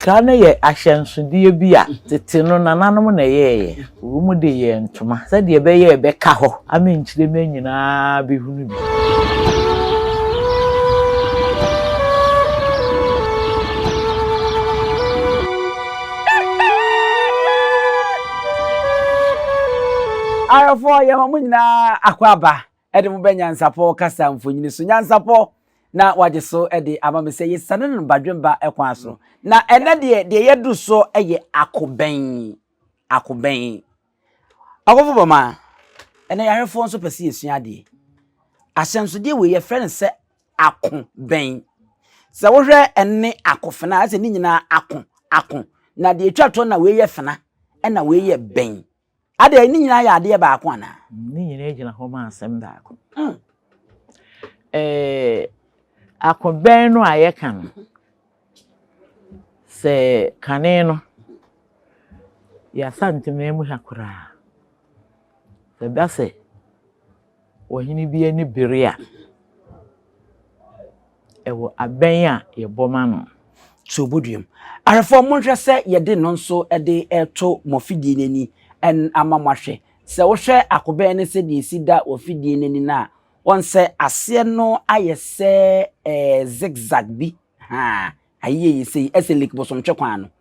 Sika no yɛ ahyɛnsodeɛ bi a tete no nananom na ɛyɛeɛ. Wɔn mu de yɛɛ ntoma sɛdeɛ ɛbɛyɛ a ɛbɛka hɔ ama nkyirema nyinaa bɛhunu bi. Ayeforɔ, yɛma mo nyinaa akwaaba. de mo bɛ nyansapɔ kasa mfonyini so. Nyansapɔ na wɔagye so de ama me sɛ yɛsiane no badwemba kwan so. Na ɛnnɛ deɛ, deɛ yɛadu so yɛ akobɛn. Akobɛn. Ɔkofo Bɔma, ɛnnɛ yarefoɔ nso pɛ sɛ yɛsua adeɛ. Ahyɛnsodeɛ wei yɛfrɛ no sɛ ako bɛn. Sɛ wohwɛ ɛne akofena a, ɛsɛ ne nyinaa ako, ako. Na deɛ ɛtwa toɔ na wei yɛ fena, ɛna wei yɛ bɛn. Adɛn, ne nyinaa yɛ adeɛ baako anaa? Ne nyinaa gyina hɔ ma asɛm baako. Akobɛn no a yɛka no, sɛ kane no, yɛasa ntemea mu ha koraa. Ɛba sɛ Ɔhene bi ani bere a, ɛwɔ abɛn a yɛbɔ ma no. Sɛ ɔbɔduam a, ahwɛfoɔ monhwɛ sɛ yɛde no nso de reto mo afidie no ani ama moahwɛ. Sɛ wohwɛ akobɛn no sɛdeɛ ɛsi da wɔ afidie no ani no a, woahu sɛ aseɛ no ayɛ sɛ zigzag bi, haa, ayeyɛyɛ sei, ɛsɛ like bosomtwe kwan no.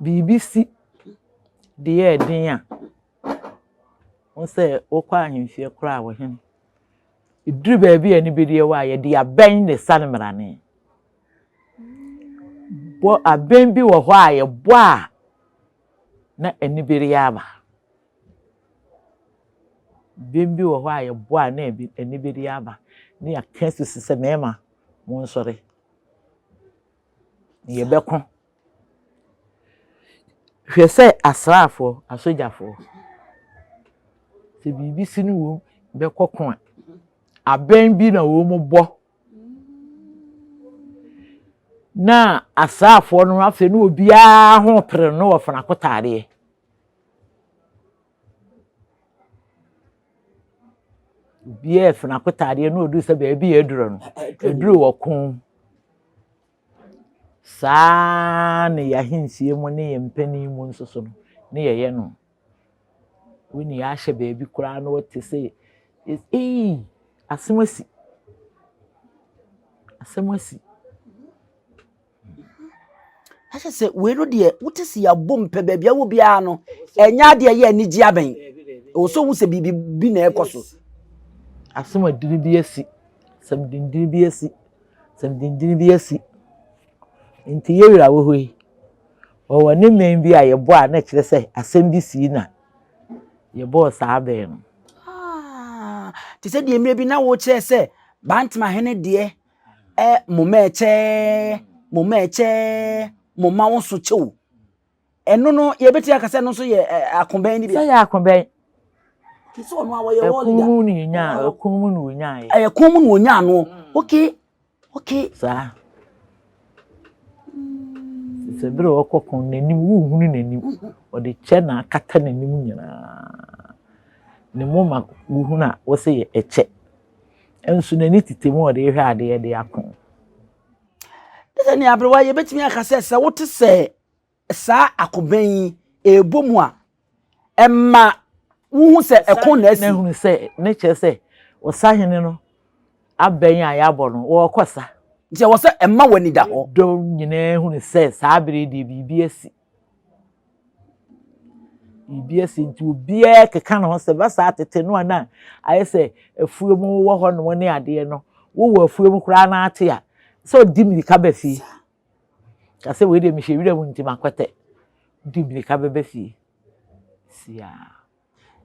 biribi si de yɛ den a, wohu sɛ wokɔ ahemfie koraa a, ɔhene, ɛduru baabi a ɛne bɛdi awɔ a, yɛde abɛn na ɛsa no mmarane. Bɔ abɛn bi wɔ hɔ a yɛbɔ a na ɛne bɛdi aba. Abɛn bi wɔ hɔ a yɛbɔ a na ɛne bɛdi aba. Ne yɛaka susu sɛ mmarima monsɔre. yɛbɛko. Hwɛ sɛ asraafoɔ, asogyafoɔ, sɛ biribi si ne wɔn bɛkɔ ko a, abɛn bi na wɔbɔ na asraafoɔ no afei ne obiara ho pere no wɔ fanakotaadeɛ. Obiara refon akotaadeɛ na ɔduru sɛ baabi a aduro no, aduro wɔ ko. Saa ara na yɛn ahensie mu ne yɛn mpanin mu nso so no, ne yɛyɛ no. Wo nua ahyɛ baabi koraa na ɔte sɛ ee, asɛm asi. Asɛm asi. Na kyerɛ sɛ wei no deɛ wote se yɛabom pɛ baabi a wɔ biara no ɛnyɛ adeɛ ɛyɛ anigye abɛn ɛwɔ sɛ wohu sɛ biribi bi na ɛkɔ so asɛm adini bi asi sɛm dindini bi asi sɛm dindini bi asi nti yɛ wura wɔ hɔ yi wɔwɔ ne mmɛn bi a yɛbɔ a na ɛkyerɛ sɛ asɛm bi sii na yɛbɔɔ saa bɛn no ah, te sɛ deɛ mmerɛ bi na wokyerɛ sɛ bantama hene deɛ ɛ moma ɛkyɛ moma ɛkyɛ moma wo so kyɛw ɛno no yɛbɛtumi aka sɛ ɛno nso yɛ akobɛn no bi sɛ yɛ akobɛn ɛkun mu na ɔnya ɛkun mu na ɔnya yɛ ɛkun mu na ɔnya ano ok ok saa sɛ bere ɔkɔ kɔn n'anim wohunu n'anim ɔde kyɛ na akata n'anim nyinaa ne moma wohunu a wɔsɛ yɛ ɛkyɛ nso n'ani tete mu a ɔde rehwɛ adeɛ de ako. Ne sɛ nea aberewa yɛbɛtumi aka sɛ sɛ wote sɛ saa akobɛn yi ɛrebɔ mu a ɛma wohu sɛ ɛko na asi. Ɛhunu sɛ ne kyerɛ sɛ ɔsahene no abɛn a yɛabɔ no wɔrekɔ sa. Nti ɛwɔ sɛ ɛma w'ani da hɔ. Dɔm nyinaa hunu sɛ saa bere deɛ biribi asi. Biribi asi nti obiara keka ne ho sɛ ba saa tete no a na ayɛ sɛ afuom wɔ hɔ nom ne adeɛ no wowɔ afuom koraa na ate a sɛ ɔdi mmirika ba fie ka sɛ wei deɛ mehwɛ wira mu nti makɔtɛ di mmirika bɛba fie siaa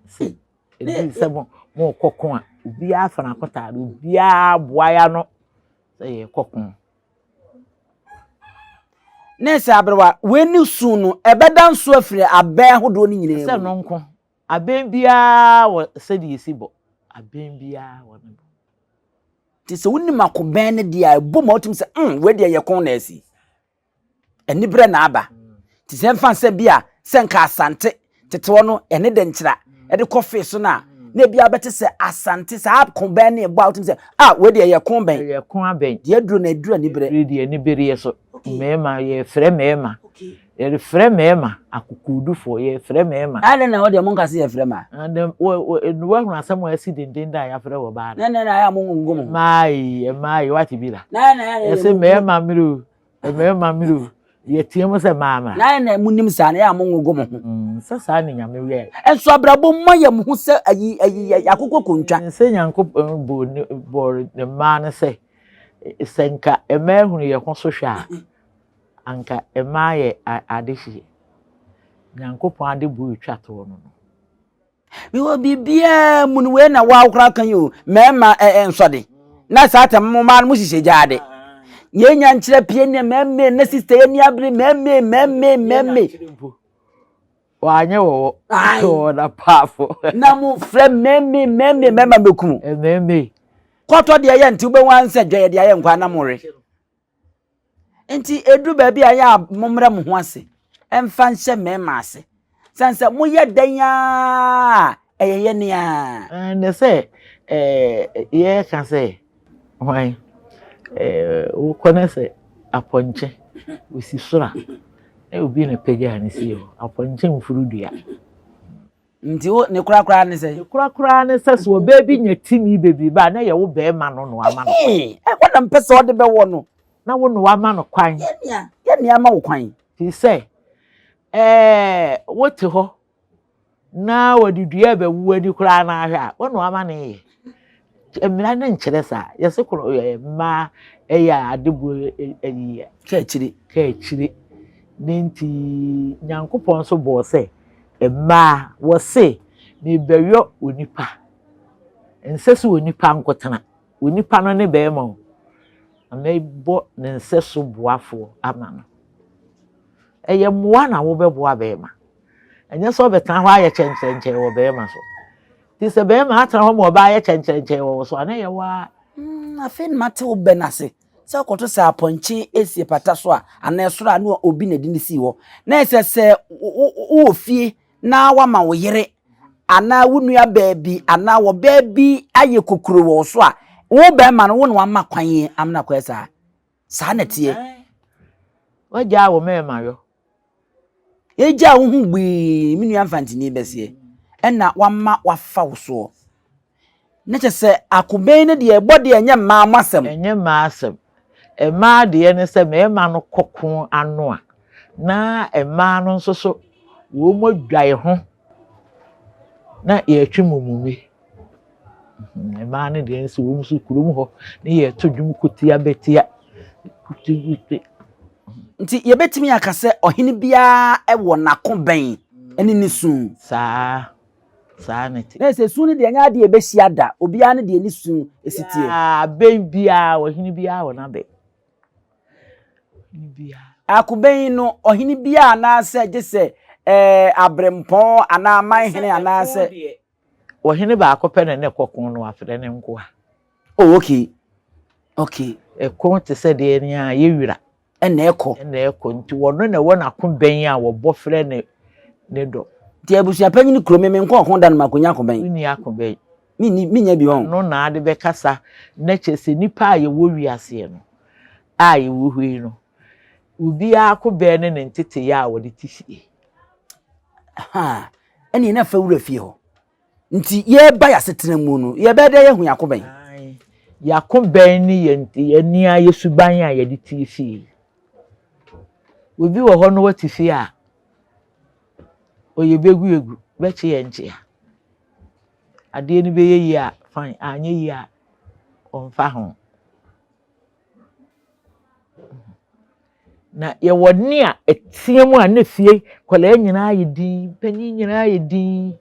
sɛ ɛdi sɛ mo mokɔko a obiara fa n'akɔtaade obiara boa ya no sɛ yɛkɔko Nɛɛse aberewa, w'ani su no, ɛbɛda nso afiri abɛn ahodoɔ no nyinaa mu. Sɛ no nko, abɛn biara wɔ sɛdeɛ ɛsi bɔ. Abɛn biara wɔ ne bɔ. Nti sɛ wonim akobɛn no deɛ a, ɛbɔ ma wotumi sɛ, mm, wei deɛ yɛ ko nɛɛse. Aniberɛ na aba. Nti sɛ mfa nsɛ bi a sɛ nka Asante tete hɔ no yɛne Dankyira de kɔ fee so no a, na ebi a wobɛte sɛ Asante saa ko bɛn ne ɛbɔ a wotumi sɛ a wei deɛ ɛyɛ ko bɛn. Ɛyɛ ko abɛn. Deɛ aduro na aduro aniberɛ. Wei deɛ anibereɛ so. Mmarima yɛrefrɛ mmarima. Yɛrefrɛ mmarima akokoɔdufoɔ yɛrefrɛ mmarima. Ɛyɛ dɛn na hɔ deɛ mo nka sɛ yɛrefrɛ mmaa. Ɛnna woahunu asɛm a asi denden da a yɛafrɛ wɔ baa no. Na ɛnna na ayɛ a mo ngongo mo ho. Mmaa ee mmaa ee wate bi da. Na ɛnna ayɛ a yɛyɛ. Yɛse mmarima mmere o. Mmarima mmerɛ o, yɛteɛ mu sɛ maama. Na ayɛ na mo nim saa na yɛ a mo ngogo mo ho. Mm, sɛ saa ne nyame yɛ. Nso abrabɔ mu ma yɛ mo ho sɛ ayi ayi yɛ akokɔ kontwa. Sɛ nyankopɔn bɔ ne bɔ ne mmaa no sɛ sɛ nka mmaa hunu yɛ ho so hwɛ a anka mmaa yɛ adehyeɛ. Nyankopɔn ade bu etwa toɔ no no. Mewɔ biribiara mu no wei na wɔakora aka yi o mmarima nsɔde na saa tam mo mmaa no mohyehyɛ gyaa de yɛnya nkyerɛ pie ne mmɛmme na sista yɛ ni abere mmɛmme mmɛmme mmɛmme wanyɛ wɔwɔ wɔwɔ na paafo na mo frɛ mmɛmme mmɛmme mmɛma mɛkum mmɛmme kɔtɔ deɛ yɛ nti wobɛhu ansɛ dwa yɛ deɛ ayɛ nkwa na mo re Nti edu baabi a ɛyɛ a mommrɛ mo ho ase mfa nhyɛ mmarima ase. Sane sɛ moyɛ dɛn ara a ɛyɛ yɛ ne ara. Na sɛ yɛka sɛ hwan wokɔ na sɛ apɔnkye osi soro a na obi na pagyaa no sie hɔ. Apɔnkye mforo dua. Nti wo ne kora koraa ne sɛ. Ne kora koraa ne sɛ so ɔbaa bi nya timi bebiri ba a na yɛ wo bɛɛma no noa ma no. Ee ɛhɔ na mpɛ sɛ ɔde bɛwɔ no. Na wo noa ma no kwan. Yɛ nea yɛ nea ama wo kwan. Firi sɛ ɛɛ wo te hɔ na wɔde dua bɛwu ani koraa na ahwɛ a wo noa ma no yɛ. Mmara no nkyerɛ saa. Yɛse koro ɛ ɛ mmaa yɛ adebɔ ɛyi. Kaakyire. Kaakyire. Ne nti Nyankopɔn nso bɔɔ sɛ mmaa wɔse mebɛyɔ onipa. Nsɛ so onipa nkotena. Onipa no ne bɛrima o. Na mɛbɔ ne nsɛ so boafoɔ ama no. Ɛyɛ mmoa na wobɛboa bɛrima. Ɛnyɛ sɛ ɔbɛtena hɔ ayɛ kyɛnkyɛnkyɛn wɔ bɛrima so. Nti sɛ bɛrima atena hɔ ma ɔbaa yɛ kyɛnkyɛnkyɛn wɔ wo so a, na ɛyɛ wo ara. Mm, afei na mate wo bɛ no ase sɛ wokɔto sɛ apɔnkye esie pata so a anaa ɛsoro a ne obi na ɛde no sii hɔ na ɛsɛ sɛ wowɔ fie na wama wo yere anaa wo nua baabi anaa wɔ baabi ayɛ kokuro wɔ wo so a wo bɛrima no wo na wama kwan amena kɔɛ saa saa na ɛteɛ. Wagyaa wo mmarima yɔ. Yɛgyaa wo ho gbii me nua mfantini bɛseɛ ɛna wama wafa wo soɔ. Na kyɛ sɛ akobɛn no deɛ ɛbɔ deɛ ɛnyɛ mmaa mo asɛm. Ɛnyɛ mmaa asɛm. Mmaa deɛ ne sɛ mmarima no kɔ ko ano a na mmaa no nso so wɔn adwae ho na yɛtwe mumumi. Mmaa no deɛ nso wɔn nso kurom hɔ ne yɛto dwom ko tia bɛtia kutukutu. Nti yɛbɛtumi aka sɛ ɔhene biara wɔ n'ako bɛn ne ne su. Saa saa ne te. Na sɛ su no deɛ ɛnyɛ adeɛ ɛbɛhyia da obiara ne deɛ ne su si teɛ. Abɛn biara ɔhene biara wɔ n'abɛn. Akobɛn no ɔhene biara anaasɛ gye sɛ ɛɛ abrɛmpɔn anaa amanhene anaasɛ. Ɔhene baako pɛ na na ɛkɔ ko no afrɛ ne nkoa. Oh okay okay. Ɛko te sɛ deɛ ni a yɛ wira. Ɛna ɛkɔ. Ɛna ɛkɔ nti wɔno na ɛwɔ n'ako bɛn a wɔbɔ frɛ ne ne dɔ. Nti abusua panyin kuro me me nkɔ ɔko da no makonya ako bɛn. Wonni ako bɛn. Menni menya bi wɔn. No na ade bɛkasa na kyerɛ sɛ nipa a yɛwɔ wiaseɛ no a yɛwɔ hɔ yi no obiara ako bɛn ne ne nteteyɛ a wɔde te fie. Ahaa. Ɛnneɛ na fa wura fie hɔ. Nti yɛreba yɛasetena mu no, yɛbɛyɛ dɛ yɛahu yɛako bɛn? Yɛako bɛn ne yɛn ani a yɛ suban a yɛde tie fie. Obi wɔ hɔ no wate fie a ɔyɛ bɛgu egu, bɛkye yɛ nkyea. Adeɛ no bɛyɛ yie a fine, anyɛ yie a ɔmfa ho. Na yɛwɔ nne a ɛteɛ mu a na fie nkwadaa nyinaa ayɛ dinn, mpanin nyinaa ayɛ dinn.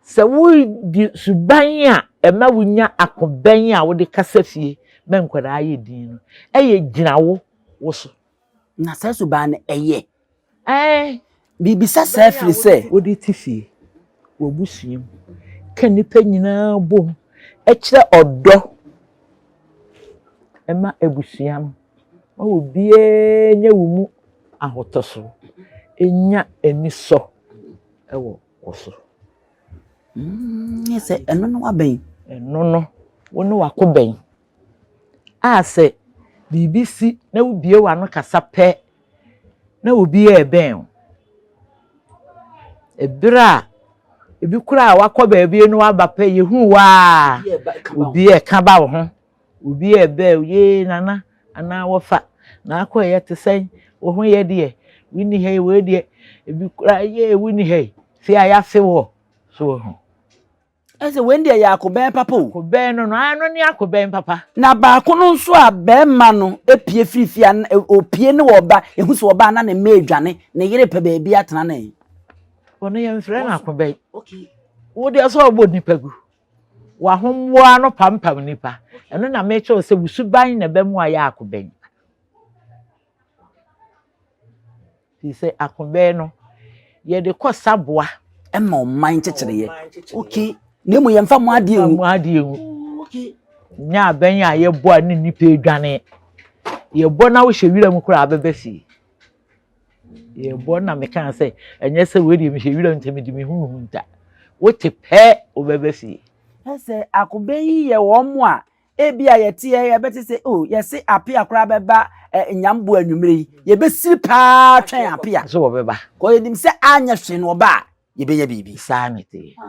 Sɛ woredi suban a ɛma wonya akobɛn a wode kasa fie ma nkwadaa yɛ dinn no yɛ gyina wo wo so. Na saa suban no, ɛyɛ. Ɛɛ. Mibisa saa efiri sɛ. Wode te fie, w'abusua mu, ka nnipa nyinaa bom kyerɛ ɔdɔ ma abusua no ma obiara nya wo mu ahotɔso, nya anisɔ wɔ wo so. Sɛ ɛno no wabɛn. Ɛno no, wo ne w'ako bɛn. a sɛ biribi si na wubue w'ano kasa pɛ na obi rebɛn wo. Bere a ebi koraa a wɔakɔ baabi na wɔaba pɛ, yehu wo ara a, obi reka ba wo ho. Obi rebɛn wo, yee Nana anaa wɔfa, na akɔeɛ te sɛn? Wo ho yɛ deɛ? Wonni ha yi, wei deɛ, ebi koraa yee wonni ha yi, fie a yɛafe woɔ. So woahu? Ɛsɛ wei deɛ yɛ akobɛn papa o. Akobɛn no no aa ɛno ne akobɛn papa. Na baako no nso a bɛɛma no pue firi fie a ɔpue ne ɔba ɛhu sɛ ɔba a na ne mma ɛredwane ne yere pɛ baabi atena ne. Ɔno yɛ mfrɛ no akobɛn. Wo deɛ sɛ ɔbɔ nipa gu. Wahomboa no pampam nipa. Ɛno na mekyɛw sɛ wusuban na ɛbɛmo ayɛ akobɛn. Te sɛ akobɛɛ no, yɛde kɔ saboa. Ɛma ɔman nkyekyereeɛ. Ok, na emu yɛmfa mu adeɛ ngu. Mu adeɛ ngu. Nyɛ abɛn a yɛbɔ a ne nnipa adwane. Yɛbɔ na wohyɛ wira mu koraa abɛbɛ fie. Yɛbɔ na mekaa sɛ ɛnyɛ sɛ wei deɛ mehyɛ wira mu sɛ mede mehu mehu nta. Wote pɛ wobɛbɛ fie. Ɛsɛ akobɛn yi yɛ wɔn a Ebia yɛteɛ a yɛbɛte sɛ, oh, yɛse apea koraa bɛba eh, nyambo anwummere yi. Yɛbɛsiri paa twɛn apea. So wɔbɛba. Kɔ yɛnim sɛ anyɛ hwee no ɔba a, yɛbɛnya biribi. Saa mete. Ah.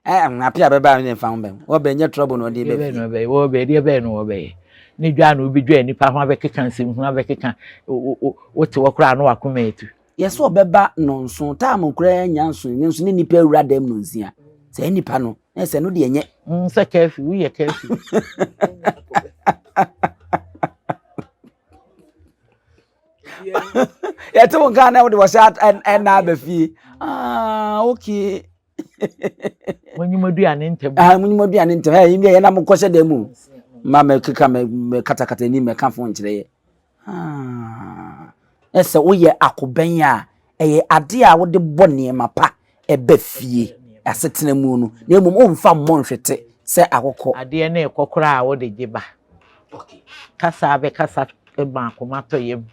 Eh, apea bɛba a ne mfa ho bɛn. Wɔbɛn nyɛ trouble na ɔde bɛbi. Wɔbɛn, wɔbɛn, deɛ bɛn no wɔbɛyɛ. Ne dwa na wobɛdwa nipa ho abɛkeka nsɛmhunu abɛkeka wote wɔ koraa na wakoma atu. Yɛse ɔbɛba nnɔnso, time no koraa anya nso, nanso ne nipa awura dɛm no nsia. Saa nipa no, na ɛsɛ no deɛ nyɛ. Mm, sɛ kɛfi, woyɛ kɛfi. Yɛte wo nka na wode wɔhyɛ ɛna aba fie. Ah, okay. monyim aduane ntɛm ah monyim aduane ntɛm ɛ yɛn deɛ yɛn na mo kɔhyɛ dɛm o ma mɛ keka mɛ mɛ katakata anim mɛ ka fo nkyerɛ yɛ ah na sɛ woyɛ akobɛn a ɛyɛ adeɛ a wode bɔ nneɛma pa ɛbɛ fie asetena mu no na mmom womfa mmɔ nhwete sɛ akokɔ adeɛ ne ɛkɔ koraa a wode gye ba kasa bɛkasa ma akoma tɔ yam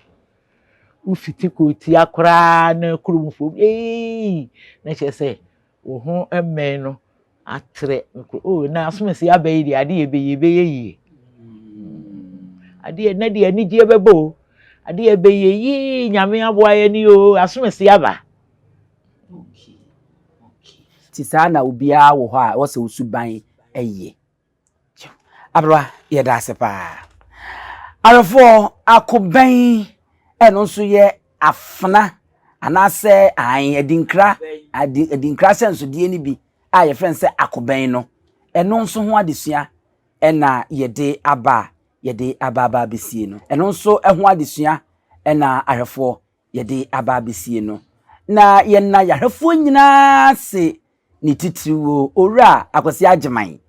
wofiti kɔ tia koraa na kurom fam eii na kyerɛ sɛ wo ho mmɛn no atrɛ o na asomasi aba yi deɛ ade yɛ bɛyɛ bɛyɛ yie adeɛ na deɛ anigyeɛ bɛbɔ o adeɛ bɛyɛ yie nyame aboa yɛ ne o asomasi aba ti saa na obiara wɔ hɔ a wɔsɛ osuban ɛyɛ. Aberewa, yɛda ase paa. Awerɛfoɔ, akobɛn, ɛno nso yɛ afena anaasɛ an adinkra adi adinkra asɛnsodeɛ no bi a yɛfrɛ no sɛ akobɛn no. Ɛno nso ho adesua ɛna yɛde aba a yɛde aba aba abɛsie no. Ɛno nso ho adesua ɛna ahwɛfoɔ yɛde aba abesie no, na yɛnna yarefoɔ nyinaa ase ne titiriw o, Owura Akwasi Agyeman,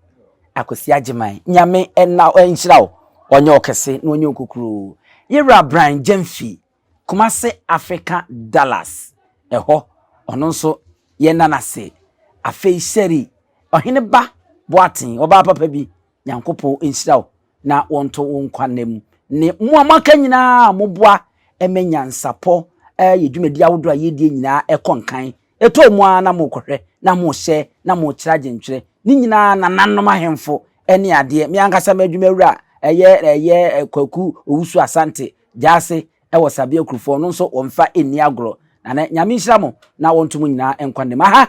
Akwasi Agyeman, Nyame ɛna nhyira wo, ɔnyɛ ɔkɛse na ɔnyɛ okokuro o. Yewura Brian Gyamfi, Kumase Africa Dallas, ɛhɔ, ɔno nso yɛnna no ase. Afei Sherry, Ɔhene Ba Boaten, ɔbaa papa bi, Nyankopɔn nhyira wo na wɔnto wo nkwa nna mu ne mo a moaka nyinaa a moboa ma nyansapɔ yɛ dwumadi ahodoɔ a yɛdie nyinaa ɛkɔ nkan. Ɛtɔ mu ara na mokɔhwɛ na mohyɛ na mokyerɛ adwentwerɛ. Ne nyinaa nananom ahemfo ne adeɛ. Me ankasa m'adwumawura a ɛyɛ ɛyɛ Kwaku Owusu Asante Gyase wɔ Sabea Kurufoɔ no nso wɔmfa nni agorɔ. Na ne Nyame nhyira mo na wɔnto mo nyinaa nkwa nna mu. Aha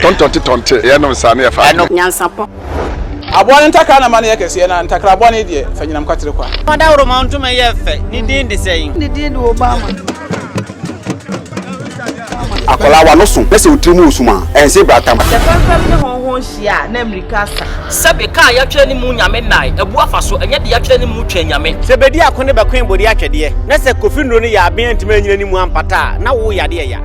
Tɔntɔnte tɔnte, yɛ nom saa na yɛ fa adwene. Nyansapɔ. Aboa no ntakra na ɛma no yɛ kɛseɛ na ntakra boa no deɛ fa nyinam kwatere kwa. Dawuroma ntoma yɛ fɛ, ne din de sɛn? Ne din de Obama. Akwadaa w'ano so na sɛ wo tiri mu wɔ sum a, ɛnse bra tam. Sɛ fɛmfɛm ne hɔnhɔn hyia a, na mmirika asa. Sɛbe kaa yɛatwerɛ ne mu nyame nnae, abu afa so, ɛnyɛ deɛ yɛatwerɛ ne mu twɛn nyame. Sɛ bedi ako ne bɛkoe bodi atwɛdeɛ, na sɛ kofi nnuro no yɛ aben antumi anyina ne mu ampata a, na wo yade ɛya.